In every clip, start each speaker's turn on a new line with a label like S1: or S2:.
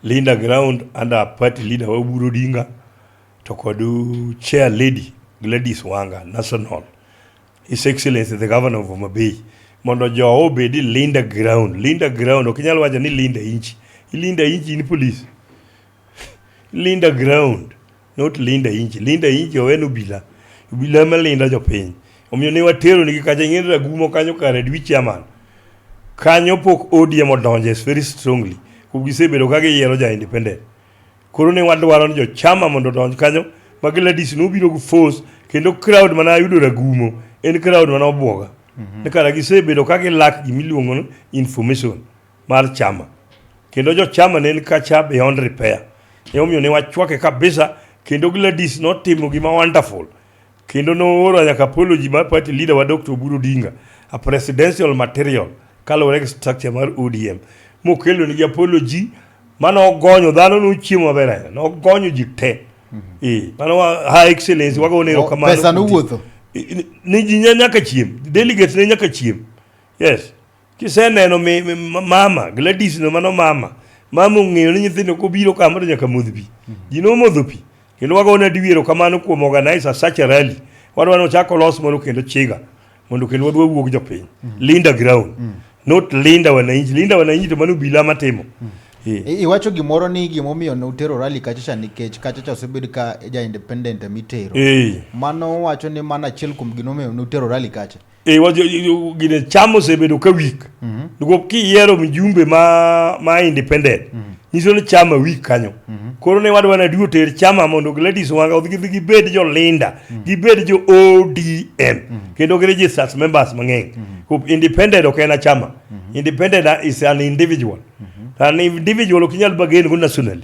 S1: Linda Ground under party leader Oburu Odinga to kod chair lady Gladys Wanga national His Excellency the Governor of Homa Bay mondo jowa obed i Linda Ground. Linda Ground ok inyal wacho ni Linda inchi. Ilinda inchi in police. Linda Ground. Not linda inji. Linda inji owen obila. Obila ema linda jopiny. Omiyo ne watero nigi kacha ing'eni ragumo kanyo kare dwi chairman. Kanyo pok ODM odonje very strongly. Kuom gisebedo ka giyiero ja independent. Koro ne wadwaro ni jo chama mondo odonj kanyo ma Gladys nobiro gi force kendo crowd mana ayudo ragumo en crowd mana obwoga. Mm -hmm. Kara gisebedo ka gilak gimiluongo information. mar chama kendo jochama ne ni kacha beyond repair emomiyo ne wachwake kabisa kendo Gladys notimo gima wonderful kendo nooro nyaka apology mar party leader wa Dr. Oburu Odinga a presidential material kaluwore gi structure mar ODM mokelo nigi apology mane ogonyo dhano nochiemo maber ahinya nogonyo ji te mhm. eh, mano ha excellence wagone erokamano pesa nowuotho
S2: ni ji
S1: nyaka chiem delegates ne nyaka chiem yes Kiseneno mi, mi, mama Gladys no mano mama mama ong'eyo ni nyithindo kobiro kama to nyaka modh pi mm -hmm. ji nomodho pi kendo wagone adiwero kamano kuom organizer such a rally wadwa ni ochak olos moro kendo chiga mondo kendo wadwa wuog jopiny mm -hmm. linda ground mm -hmm. not linda wananchi linda wananchi to mano bila matimo mm -hmm. Yeah. Iwacho
S2: gimoro ni gimomiyo ne utero rally kachacha nikech kachacha osebed ka ja independent mitero. Yeah. Mano wacho ni mana achiel kuom gimomiyo ne utero rally kacha. Eh, wa- jo- jo-
S1: gine cham osebedo ka weak niko kiyiero mjumbe ma ma independent nyiso ni chama weak kanyo koro ne wadwa na duo ter chama mondo gladis wanga odhi gidhi gibed jolinda gibed jo odm kendo gi registers members mang'eny Ko independent ok en achama independent is an individual an individual ok inyal bagen go nationally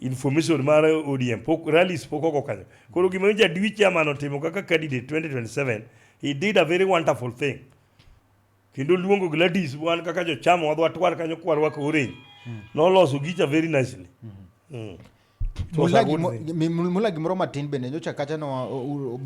S1: information mar ODM pok rallies pok ogo kanyo. Koro gima jadwi chairman otimo kaka candidate 2027 he did a very wonderful thing. Kendo luongo Gladys wan kaka jo chama wadwa twar kanyo kwa rwako orange. Mm. Noloso gicha very nicely.
S2: Mm. Mm. Mula gimoro matin bende nyocha kacha no